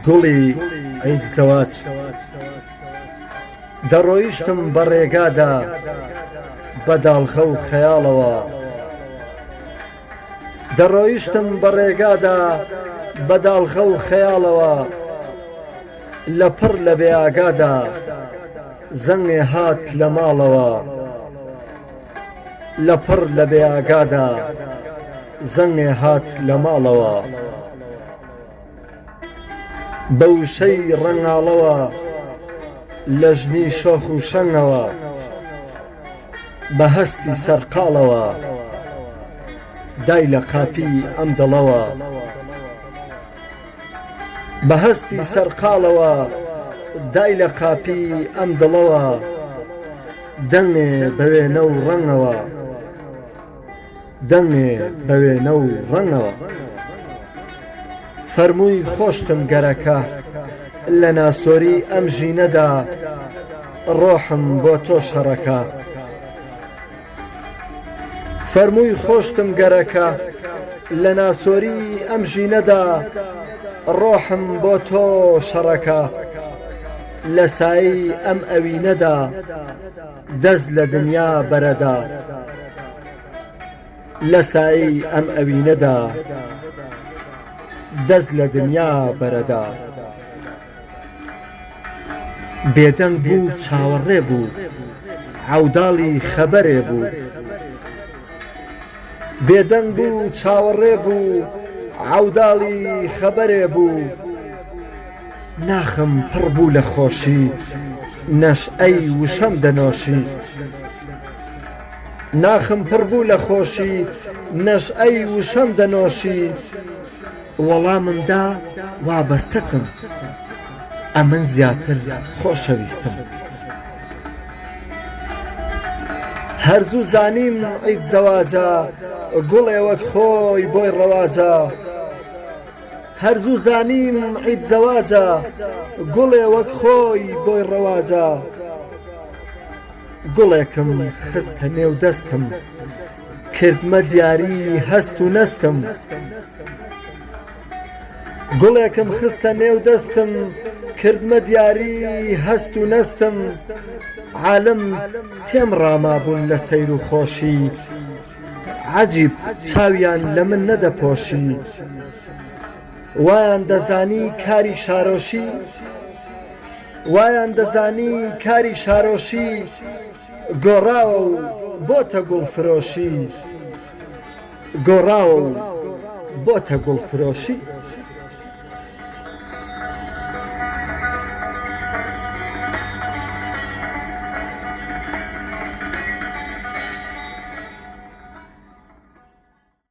گوڵی عید زەواج دەڕۆیشتم بە ڕێگادا بە داڵغە و خەیاڵەوە دەڕۆیشتم بە ڕێگادا بە داڵغە و خەیاڵەوە لە پڕ لە بێ ئاگادا زەنگێ هات لە ماڵەوە. لەپڕ لە بێ ئاگادا زەنگێ هات لە ماڵەوە بە وشەی ڕەنگاڵەوە لە ژنی شۆخ و شەنگەوە بە هەستی سەرقاڵەوە دای لە قاپی ئەم دڵەوە. بە هەستی سەرقاڵەوە دای لە قاپی ئەم دڵەوە دەنگێ بە وێنە و ڕەنگەوە دەنگێ بە وێنە و ڕەنگەوە فەرمووی خۆشتم گەرەکە لە ناسۆری ئەم ژینەدا ڕۆحم بۆ تۆ شەڕەکە فەرمووی خۆشتم گەرەکە لە ناسۆری ئەم ژینەدا ڕۆحم بۆ تۆ شەڕەکە لە سایەی ئەم ئەوینەدا دەس لە دنیا بەرەدا لە سایەی ئەم ئەوینەدا دەس لە دنیا بەرەدا. بێدەنگ بوو و چاوەڕێ بوو عەوداڵی خەبەرێ بوو ناخم پڕ بوو لە خۆشی نەشئەی وشەم دەنۆشی وەڵامم دا وابەستەتم ئەمن زیاتر خۆشەویستم. هەر زوو زانیم عید زەواجە گوڵێ وەک خۆی بۆی ڕەواجە هەر زوو زانیم عید زەواجە گوڵێ وەک خۆی بۆی ڕەواجە گوڵێکم خستە نێو دەستم کردمە دیاری هەست و نەستم گوڵێکم خستە نێو دەستم کردمە دیاری هەست و نەستم عالم تێم ڕامابوون لە سەیر و خۆشی عەجیب چاویان لە من نەدەپۆشی وایان دەزانی کاری شارۆشی وایان دەزانی کاری شارۆشی گۆڕاوە و بۆتە گوڵفرۆشی گۆڕاوە و بۆتە گوڵفرۆشی.